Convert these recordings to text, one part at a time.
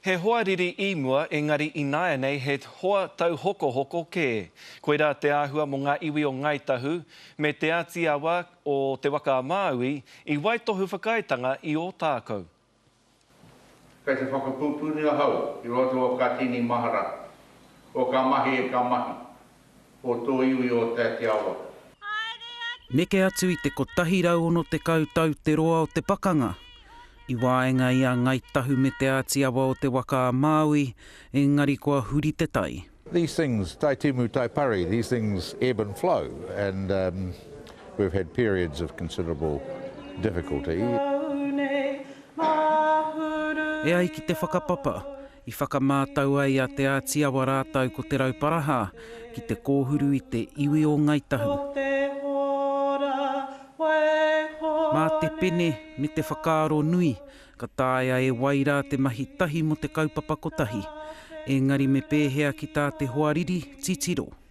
He hoa riri i mua, engari ināianei he hoa tauhokohoko kē. Koirā te āhua mō ngā iwi o Ngāi Tahu me Te Āti Awa o Te Waka-a-Māui i waitohu whakaaetanga i Ōtākou. Kei te whakapupuri ahau i roto o kā tini mahara, o kā mahi e kā mahi, o tō iwi o Te Ati Awa. Neke atu i te 160 tau te roa o te pakanga, i waenga i a Ngai Tahu me Te Āti Awa o te Waka a Māui, engari kua huri te tai. These things tai timu tai pari, these things ebb and flow and um we've had periods of considerable difficulty. E ai ki te whakapapa, I whakamātau ai a Te Ātiawa rātou ko Te Rauparaha ki te kōhuru i te iwi o Ngāi Tahu. Mā te pene me te whakaaro nui, ka taea e wai rā te mahi tahi mō te kaupapa kotahi. Engari me pēhea ki tā te hoariri titiro?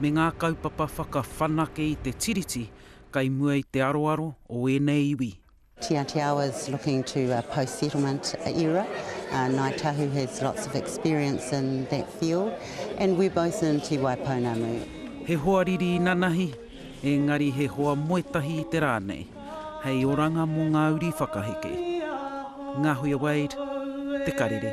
me ngā kaupapa whakawhanake i te Tiriti kei mua i te aroaro o ēnei iwi. Tiatiao is looking to a post settlement era, Ngāi Tahu has lots of experience in that field and we're both in Te Wai Pounamu. He hoa riri inanahi, engari he hoa moetahi i te rā nei, hei oranga mō ngā uri whakaheke. Ngahuia Wade, Te Karere.